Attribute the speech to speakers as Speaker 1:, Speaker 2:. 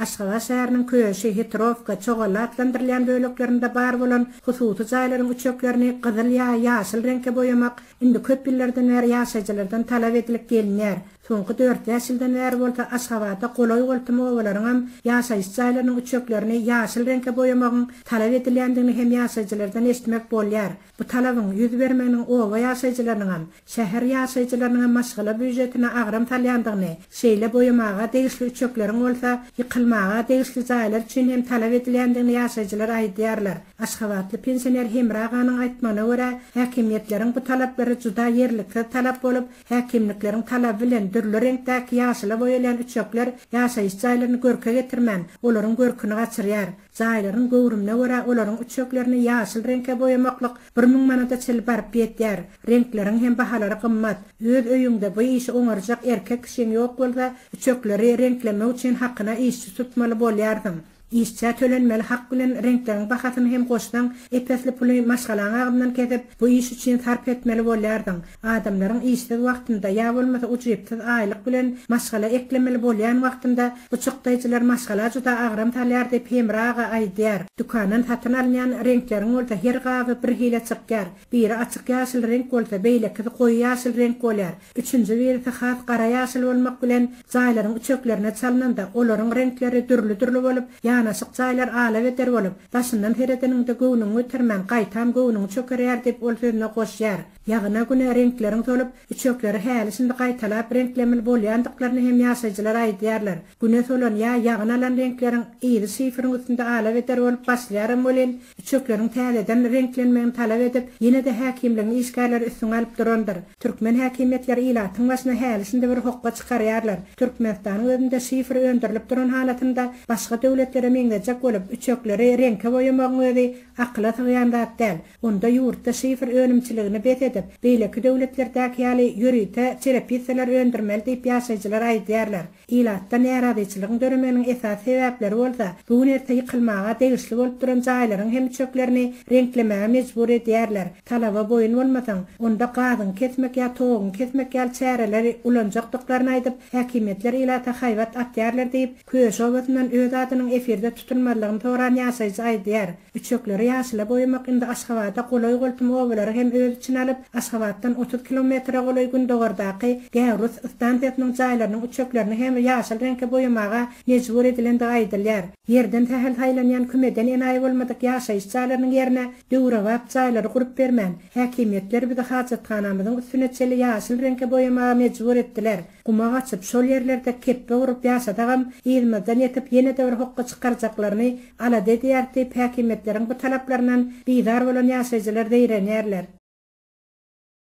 Speaker 1: Aşgabat şäheriniň Köşi, Hitrowka, Çogally atlandyrylýan böleklerinde bar bolan hususy jaýlaryň üçeklerini gyzyl ýa ýaşyl reňke boýamak indi köp ýyllardan bäri ýaşaýjylardan talap edilip gelinýär. Soňky dört-bäş ýyldan bäri bolsa Aşgabada golaý-goltum obalaryň hem ýaşaýyş jaýlarynyň üçeklerini ýaşyl reňke boýamagyň talap edilýändigini hem ýaşaýjylardan eşitmek bolýar. Bu talabyň ýüz bermeginiň oba ýaşaýjylarynyň hem, şäher ýaşaýjylarynyň hem maşgala býujetine agram salýandygyny, şeýle boýamaga degişli üçekleriň bolsa, ýykylmaga degişli jaýlar üçin hem talap edilýändigini ýaşaýjylar aýdýarlar. Aşgabatly pensioner Hemra aganyň aýtmagyna görä, häkimiýetleriň bu talaplary juda ýerliksiz talap bolup, häkimlikleriň talaby bilen dürli reňkdäki ýaşyla boýalýan üçekler ýaşaýyş jaýlaryny görke getirmän, olaryň görküni gaçyrýar. Jaýlaryň göwrümine görä olaryň üçeklerini ýaşyl reňke boýamaklyk bir müň manada çenli baryp ýetýär. Reňkleriň hem bahalary gymmat. Öz öýüňde bu işi oňarjak erkek kişiň ýok bolsa, üçekleri reňklemek üçin hakyna işçi tutmaly bolýarsyň. Işçä tölenmeli hak bilen reňkleriň bahasyny hem goşsaň, ep-esli puly maşgalaň agzyndan kesip, bu iş üçin sarp etmeli bolýarsyň. Adamlaryň işsiz wagtynda ýa bolmasa ujypsyz aýlyk bilen maşgala eklemeli bolýan wagtynda bu çykdaýjylar maşgala juda agram salýar diýip Hemra aga aýdýar. Dükandan satyn alynýan reňkleriň bolsa her gaby bir hile çykýar. Biri açyk ýaşyl reňk bolsa beýlekisi goýy ýaşyl reňk bolýar. Üçünji birisi has gara ýaşyl bolmak bilen jaýlaryň üçeklerine çalnanda olaryň reňkleri dürli-dürli bolup ýanaşyk jaýlar ala-beder bolup daşyndan seredeniňde göwnüňi götermän gaýtam göwnüň çökerýär diýip ol sözüne goşýar. Ýagyna günä reňkleriň solup, üçekleri häli-şindi gaýtalap reňklemeli bolýandyklaryny hem ýaşaýjylar aýdýarlar. Güne solan ýa ýagyn alan reňkleriň yzy şiferiň üstünde alabeder bolup başlaýaram welin, üçekleriň täzeden reňklenmegini talap edip, ýene-de häkimligiň işgärleri üstüňi alyp durandyr. Türkmen häkimiýetleri ilatyň başyna häli-şindi bir hokga çykarýarlar. Türkmenistanyň özünde şifer öndürilip duran halatynda, başga döwletlere meňzejek bolup, üçekleri reňke boýamagyň özi akyla sygýan zat däl. Onda ýurtda şifr önümçiligini bes edip, beýleki döwletlerdäki ýaly ýörite çerepisseler öndürmeli diýip ýaşaýjylar aýdýarlar. Ilatda närazyçylygyň döremeginiň esasy sebäpleri bolsa, bu gün erte ýykylmaga degişli bolup duran jaýlaryň hem üçeklerini reňklemäge mejbur edýärler. Talaba boýun bolmasaň, onda gazyňy kesmek ýa toguňy kesmek ýaly çäreleri ulanjakdyklaryny aýdyp, häkimiýetler ilata haýbat atýarlar diýip, Küýeş obasyndan öz adynyň efirde tutulmazlygyny soran ýaşaýjy aýdýar. Üçekleri ýaşyla boýamak indi Aşgabada golaý-goltum obalary hem öz içine alyp, Aşgabatdan otuz kilometre golaý gündogardaky Gäwrus stansiýasynyň jaýlarynyň üçeklerini hem ýaşyl reňke boýamaga mejbur edilendigi aýdylýar. Ýerden sähel saýlanýan kümeden enaýy bolmadyk ýaşaýyş jaýlarynyň ýerine döwrebap jaýlary gurup bermän, häkimiýetler bizi hajathanamyzyň üstüne çenli ýaşyl reňke boýamaga mejbur etdiler. Guma gaçyp, şol ýerlerde kepbe gurup ýaşadagam, yzymyzdan ýetip, ýene-de bir hokga çykarjaklaryny alada edýäris diýip, häkimiýetleriň bu talaplaryndan bizar bolan ýaşaýjylar zeýrenýärler.